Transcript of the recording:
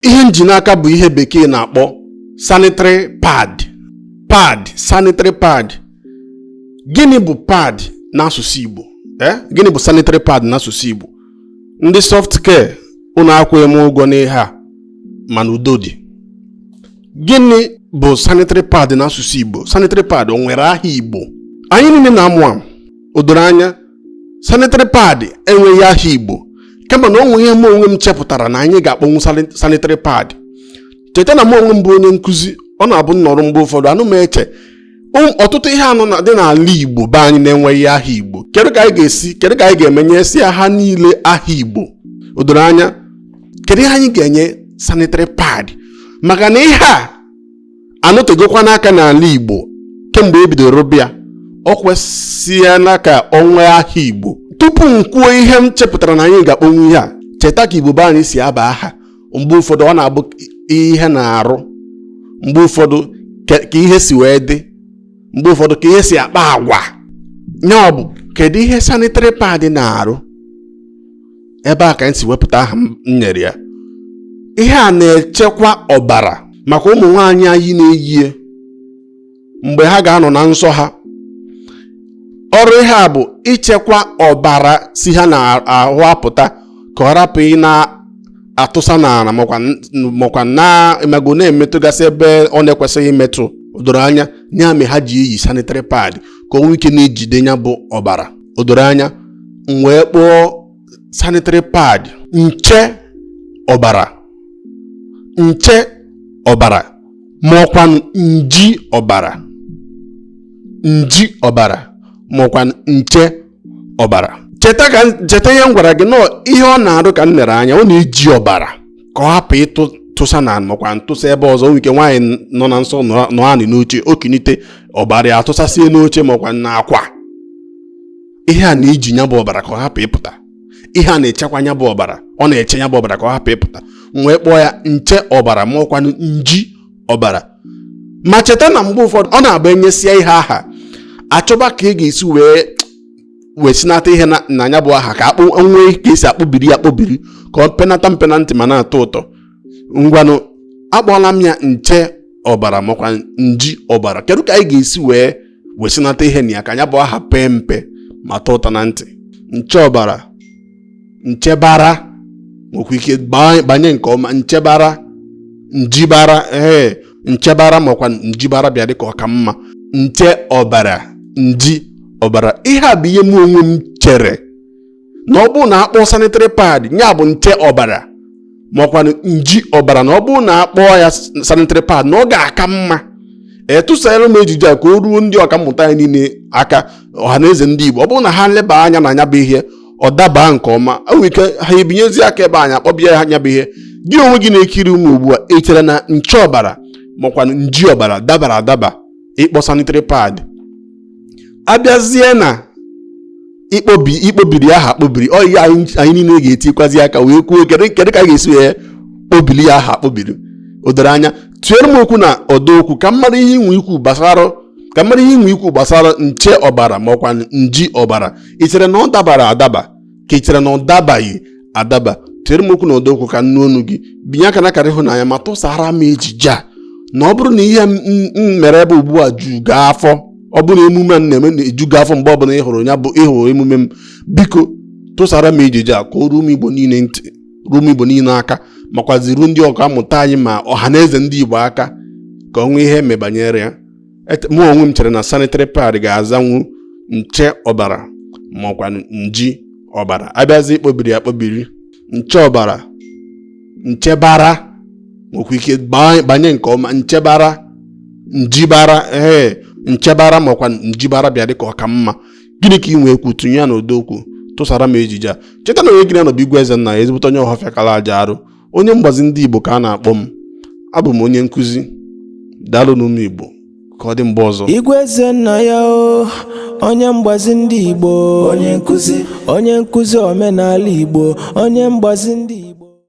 ihe m ji n'aka bụ ihe bekee na-akpọ sanitary pad pad sanitary pad gịnị bụ pad n'asụsụ Igbo eh? gịnị bụ sanitary pad n'asụsụ Igbo ndị soft care unu akwụghị m ụgwọ n'ihe a mana udo dị gịnị bụ sanitary pad n'asụsụ Igbo sanitary pad o nwere aha Igbo anyị niile na-amụ amụ o doro anya sanitary pad enweghị aha igbo kama na o nwe ihe m onwe m chepụtara na anyị ga-akpọnwu sanitary pad cheta na m onwe m bụ onye nkụzi ọ na-abụ m nọrọ mgbe ụfọdụ ana m eche ọtụtụ ihe anụ dị n'ala igbo be anyị na-enweghị aha igbo kedu ka anyị ga-esi kedu ka anyị ga-eme nyesia ha niile aha igbo o doro anya kedu ihe anyị ga-enye sanitary pad maka na ihe a anọtegokwanụ aka n'ala Igbo kemgbe ebidoro bịa o kwesịela ka o nwee aha Igbo tupu m kwuo ihe m chepụtara na anyị ga-akpọnwu ihe a cheta ka Igbo be anyị si aba aha mgbe ụfọdụ ọ na-abụ ihe na-arụ mgbe ụfọdụ ka ihe si wee dị mgbe ụfọdụ ka ihe si akpa agwa nya bụ kedu ihe sanitary pad na-arụ ebe a ka anyị si wepụta aha m nyere ya ihe a na-echekwa ọbara maka ụmụ nwaanyị anyị na-eyi ya mgbe ha ga-anọ na nsọ ha ọrụ ihe a bụ ichekwa ọbara si ha n'ahụ apụta ka ọ rapụ ịna-atụsa n'ala makwa na-emego na-emetụgasị ebe ọ na-ekwesịghị imetụ o doro anya ya mere ha ji eyi sanitary pad ka o nwee ike na-ejide nya bụ ọbara o doro anya m wee kpọọ sanitary pad nche ọbara nche ọbara ma ọkwanụ nji ọbara nji ọbara ma ọkwanụ nche ọbara cheta ka m- cheta ihe m gwara gị na ọ ihe ọ na-arụ ka m lere anya ọ na-eji ọbara ka ọ hapụ ịtụ tụsa na ma ọkwanụ tụsa ebe ọzọ nwee ike nwaanyị nọ na nsọ nọ anị n'oche o kinite ọbara ya atụsasie n'oche makwa n'akwa ihe a na-eji nya bụ ọbara ka ọ hapụ ịpụta ihe a na-echekwa nya bụ ọbara ọ na-eche nya bụ ọbara ka ọ hapụ ịpụta m wee kpọọ ya nche ọbara ma ọkwanụ nji ọbara ma cheta na mgbe ụfọdụ ọ na-abụ e nyesia ihe aha a chọba ka a ga-esi wee wesinata ihe na nya bụ aha ka akpọ nwee ka e si akpọbiri ya akpọbiri ka o penata mpe na ntị ma na-atọ ụtọ ngwanụ akpọọla m ya nche ọbara makwa nji ọbara kedu ka anyị ga-esi wee wesinata ihe na ya ka nya bụ aha pee mpe ma tọọ ụtọ na ntị nche ọbara nchebara nwekwa ike banye nke ọma nchebara njibara ee nchebara ma ọkwanụ njibara bịa dịka ọ ka mma nche ọbara nji ọbara ihe a bụ ihe m onwe m chere na ọ bụrụ na a kpọọ sanitary pad ya bụ nche ọbara makwanụ nji ọbara na ọ bụrụ na a kpọọ ya sanitary pad na ọ ga-aka mma tụsara m ejije a ka o ruo ndị ọkammụta anyị niile aka ọha na eze ndị Igbo ọ bụrụ na ha leba anya na nya bụ ihe ọ dabaa nke ọma e nwere ike ha ebinyezi aka ebe anyị akpọba ya nya bụ ihe gị onwe gị na-ekiri m ugbu a ị chere na nche ọbara makwanụ nji ọbara dabara adaba ịkpọ sanitary pad a bịazie na ịkpọbiri aha akpọbiri ọ ihe anyị niile ga-etikwazi aka wee kwuo kedu ka a ga-esi wee kpọbiri ya aha akpọbiri o doro anya tụnyere m okwu na ọdọ okwu ka m mara ihe i nwe ikwu gbasara nche ọbara ma ọ kwanụ nji ọbara ị chere na ọ dabara adaba ka ị chere na ọ dabaghị adaba tụnyere m okwu na ọdọ okwu ka m nụ onu gị binye aka na akara ịhụnanya ma tụsara m ejije a na ọ bụrụ na ihe m mere ebe ugbu a ju gị afọ ọ bụrụ na emume m na-eme na-eju gị afọ mgbe ọbụla ị hụrụ emume m biko tụsara m ejije a ka o ruo ụmụ igbo niile ntị ruo ụmụ igbo niile aka makwazi ruo ndị ọkammụta anyị ma ọha na eze ndị igbo aka ka o nwee ihe e me banyere ya mụ onwe m chere na sanitary pad ga-azanwu nche ọbara makwanụ nji ọbara a bịazi ịkpọbiri ya akpọbiri nche ọbara nchebara nwekwa ike banye nke ọma nchebara njibara ee nchebara makwa njibara bịa dịka ọ ka mma gịnị ka i nwe ikwu tụnye ya n'ọdọ okwu tụsara m ejije a cheta na onye gị na ya nọ bụ Igwe Ezennaya ezigbote onye Ọhafịa kala aja arụ onye mgbazi ndị Igbo ka a na-akpọ m abụ m onye nkụzi daalụnụ ụmụ Igbo ka ọ dị mgbe ọzọ Igwe Ezennaya o onye mgbazi ndị Igbo onye nkụzi omenala Igbo onye mgbazi ndị Igbo